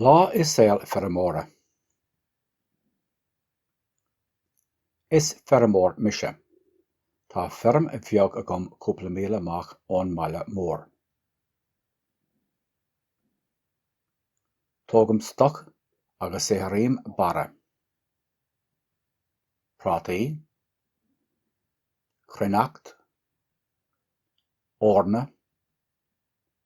Lá i saol feirmeora. Is feirmeoir mise. Tá feirm bheag agam cúpla míle amach ón mbaile mór. Tógaim stoc agus saothraím barra, prátaí, cruithneacht, eorna,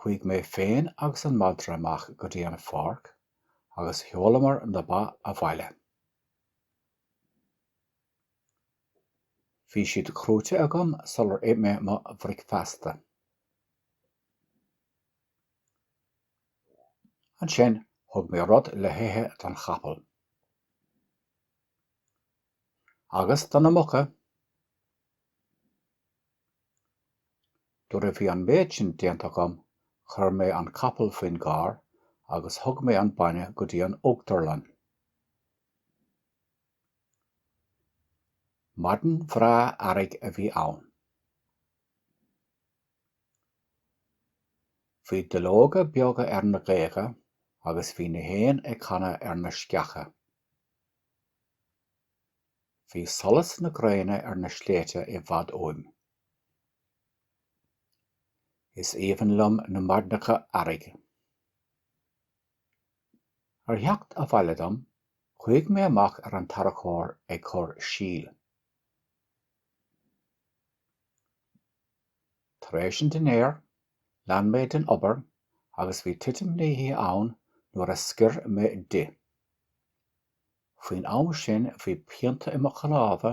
Chuaigh mé féin agus an madra amach go dtí an pháirc agus sheolamar na ba abhaile. Bhí siad crúite agam sular ith mé mo bhricfeasta. Ansin, thug mé rud le hithe don chapall. agus do na muca. Nuair a bhí an méid sin déanta agam chuir mé an capall faoin gcarr agus thug mé an bainne go dtí an uachtarlann. Maidin bhreá earraigh a bhí ann. Bhí duilleoga beaga ar na géaga agus bhí na héin ag canadh ar na sceacha. Bhí solas na gréine ar na sléibhte i bhfad uaim. Is aoibhinn liom na maidneacha earraigh. Ar theacht abhaile dom, chuaigh mé amach ar an tarracóir ag cur síl. Tar éis an dinnéir, lean mé den obair agus bhí titim na hoíche ann nuair a scoir mé di. Faoin am sin bhí pianta i mo chnámha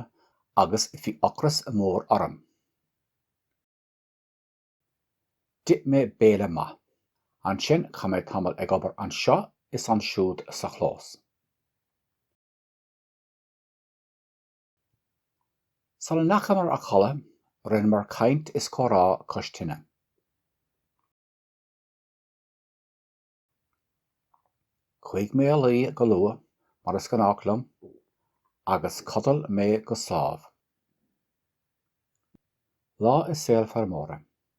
agus bhí ocras mór orm. D'ith mé béile maith. Ansin chaith mé tamall ag obair anseo is ansiúd sa chlós. Sula ndeachamar a chodladh, rinneamar caint is comhrá cois tine. Chuaigh mé a luí go luath, mar is gnách liom, agus chodail mé go sámh. Lá i saol feirmeora.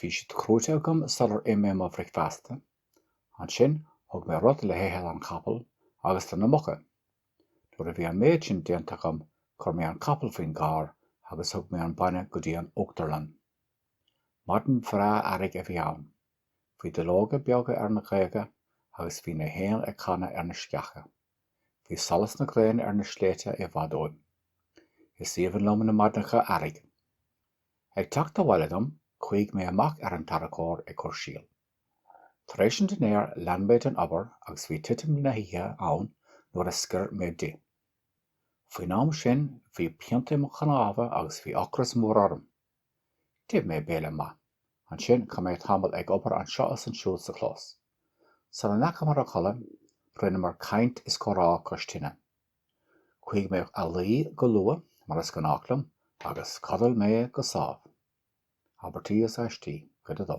Bhí siad crúite agam sular ith mé mo bhricfeasta. Ansin, thug mé rud le hithe don chapall agus do na muca. Nuair a bhí an méid sin déanta agam, chuir mé an capall faoin gcarr agus thug mé an bainne go dtí an uachtarlann. Maidin bhreá earraigh a bhí ann. Bhí duilleoga beaga ar na géaga agus bhí na héin ag canadh ar na sceacha. Bhí solas na gréine ar na sléibhte i bhfad uaim. Is aoibhinn liom na maidneacha earraigh. Ag teacht abhaile dom, chuaigh mé amach ar an tarracóir ag cur síl. Tar éis an dinnéir, lean mé den obair agus bhí titim na hoíche ann nuair a scoir mé di. Faoin am sin, bhí pianta i mo chnámha agus bhí ocras mór orm. D'ith mé béile maith. Ansin, chaith mé tamall ag obair anseo is ansiúd sa chlós. Sula ndeachamar a chodladh, rinneamar caint is comhrá cois tine. Chuaigh mé a luí go luath, mar is gnách liom, agus chodail mé go sámh. Abairtí is Aistí, Cuid a Dó.